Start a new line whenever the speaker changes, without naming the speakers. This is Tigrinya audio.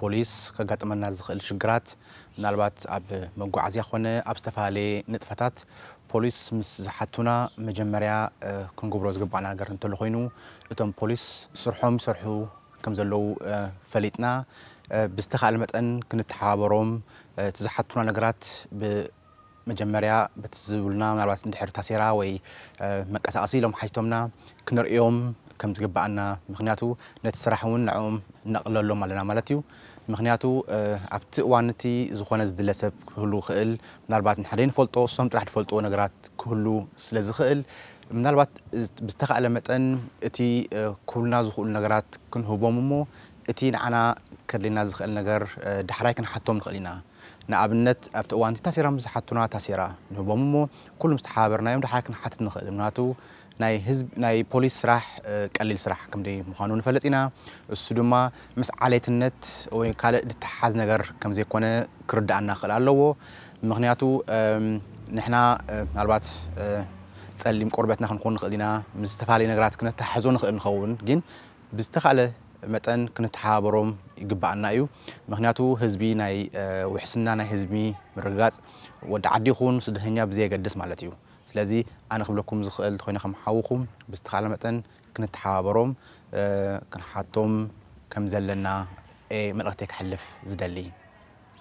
ፖሊስ ከጋጥመና ዝኽእል ሽግራት ምናልባት ኣብ መጓዓዝያ ኮነ ኣብ ዝተፈላለየ ንጥፈታት ፖሊስ ምስ ዝሓቱና መጀመርያ ክንገብሮ ዝግባኣና ነገር እንተሎ ኮይኑ እቶም ፖሊስ ስርሖም ይሰርሑ ከም ዘለዉ ፈሊጥና ብዝተኻእለ መጠን ክንተሓባበሮም እቲ ዝሓቱና ነገራት ብ መጀመርያ በቲ ዝብሉና ምናልባት እንድሕር ታሴራ ወይ መቀሳቀሲ ኢሎም ሓቲቶምና ክንርእዮም ከም ዝግበኣና ምክንያቱ ነቲ ስራሕ ውን ንዕኦም ነቅለሎም ኣለና ማለት እዩ ምክንያቱ ኣብቲ እዋን እቲ ዝኮነ ዝድለ ሰብ ክህሉ ይክእል ምናልባት ንሕና ደይንፈልጦ እሶም ጥራሕ ድፈልጥዎ ነገራት ክህሉ ስለ ዝክእል ምናልባት ብዝተካእለ መጠን እቲ ክብሉና ዝክእሉ ነገራት ክንህቦም እሞ እቲ ንዓና ከድልየና ዝክእል ነገር ዳሕራይ ክንሓቶም ንክእል ኢና። ንኣብነት ኣብቲ እዋንቲ ታሲራም ዝሓቱና ታሲራ ንህቦም እሞ ኩሉም ዝተሓባበርናዮም ድሓር ክንሓትት ንኽእል ምክንያቱ ናይ ህዝብ ናይ ፖሊስ ስራሕ ቀሊል ስራሕ ከምደይ ምዃኑ ንፈልጥ ኢና እሱ ድማ ምስ ዓሌትነት ወይ ካልእ ድተሓሓዝ ነገር ከምዘይኮነ ክርደኣና ክኽእል ኣለዎ ምክንያቱ ንሕና ምናልባት ጸሊም ቆርበትና ክንኾን ንኽእል ኢና ምስ ዝተፋለየ ነገራት ክነተሓሕዞ ንኽእል ንኸውን ግን ብዝተኻእለ መጠን ክንተሓባበሮም ይግበኣና እዩ ምኽንያቱ ህዝቢ ናይ ውሕስና ናይ ህዝቢ ምርግጋፅ ወዲ ዓዲ ይኹን ስደተኛ ብዘየገድስ ማለት እዩ ስለዚ ኣነ ክብለኩም ዝኽእል እንተኾይነ ከም ሓውኹም ብዝተኻእለ መጠን ክንተሓባበሮም ክንሓቶም ከምዘለና እየ መልእኽተይ ከሕልፍ ዝደሊ።